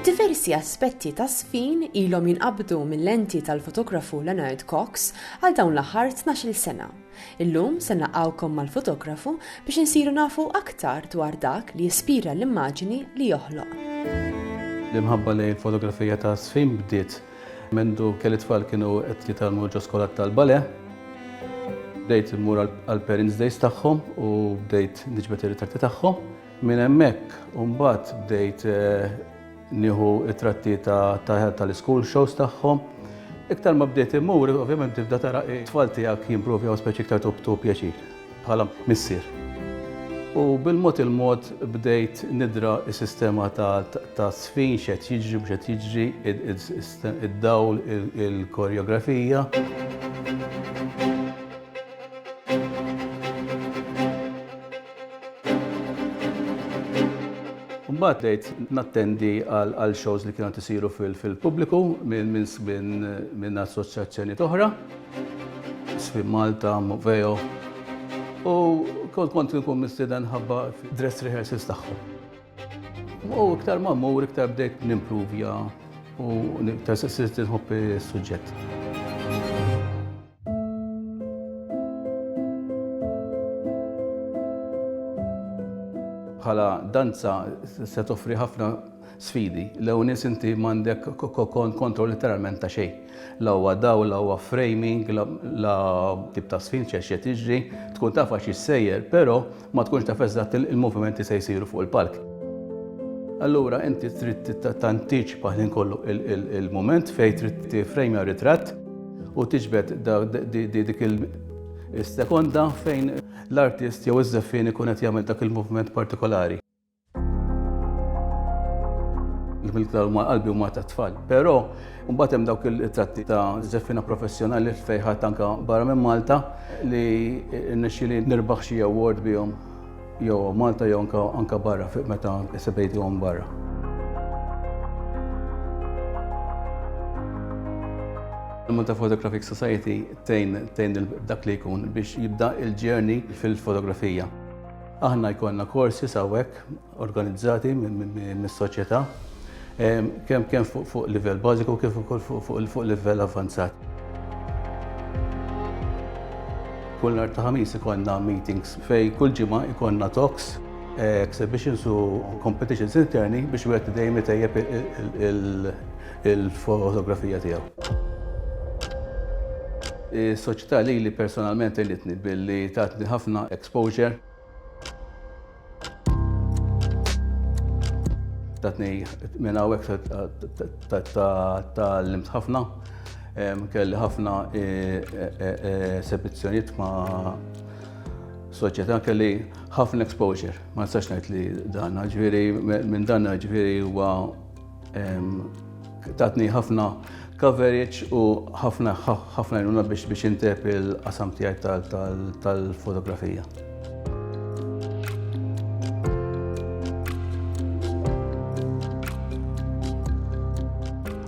Diversi aspetti ta' sfin ilhom jinqabdu mill-lenti tal-fotografu Leonard Cox għal dawn l-aħħar 12-il sena. Illum se naqgħukom mal-fotografu biex insiru nafu aktar dwar dak li jispira l-immaġini li joħloq. L-imħabba lejn il-fotografija ta' sfin bdiet mendu kelli tfal kienu qed jitalmu ġo skola tal-bale. Bdejt immur għall-parents days tagħhom u bdejt niġbed ir-ritratti tagħhom. Minn hemmhekk mbagħad bdejt nieħu t-tratti tal-iskul shows tagħhom. Iktar ma bdejt immur, ovvjament tibda tara t-tfal tiegħek jimprovjaw speċi iktar tu pjaċir bħala missier. U bil-mod il-mod bdejt nidra s-sistema ta' żfin, x'qed jiġri, mhux qed jiġri, id-dawl, il-koreografija. Mbagħad bdejt nattendi għal shows li kienu qed isiru fil-pubbliku minn assoċjazzjonijiet oħra, Swim Malta, Moveo, u kont inkun mistieden ħabba fid-dress rehearsals tagħhom. U iktar ma mmur iktar bdejt nimpruvja u iktar sirt inħobb is-suġġett. Bħala danza se toffri ħafna sfidi. L-ewwel nies inti m'għandek kontroll literalment ta' xejn. La huwa dawl, la huwa framing, la tip ta' sfin x'qed jiġri, tkun taf għax issejjer, però ma tkunx taf eżatt il-movimenti se jsiru fuq il-palk. Allura inti trid tantiċipa ħin kollu il-mument fejn trid tifrejmja ritratt u tiġbed dik il-sekonda fejn l-artist jew iż-żeffien ikun qed jagħmel dak il-moviment partikolari. il-klar huma qalbi huma ta' tfal. Però mbagħad hemm dawk il-tratti ta' żeffina professjonali fejħat anka barra minn Malta li nixxili nirbaħ xi award bihom jew Malta jew anka barra fuq meta sebejtuhom barra. Il-Malta Photographic Society tejn dak li jkun biex jibda il-ġerni fil-fotografija. Aħna jkollna courses hawnhekk organizzati mis-soċjetà kemm kemm fuq livell bażiku kif ukoll fuq livell avvanzat. Kull nhar ta' Ħamis ikollna meetings fej kull ġimgħa ikollna talks, exhibitions u competitions interni biex wieħed dejjem itejjeb il- il-fotografija tiegħu. Is-soċjetà lili personalment għinitni billi tatni ħafna exposure. Tatni minn hawnhekk tgħallimt ħafna. Kelli ħafna e, e, e, esebizzjonijiet ma' soċjetà kelli ħafna exposure. Ma nistax ngħid li dan, ġifieri minn dan ġifieri huwa Tatni ħafna coverage u ħafna ħafna jnuna biex biex intep il-qasam tijaj tal-fotografija.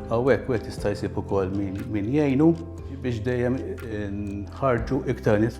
Għawek, għet jistajsib u kol min jajnu biex dejjem nħarġu iktar nis.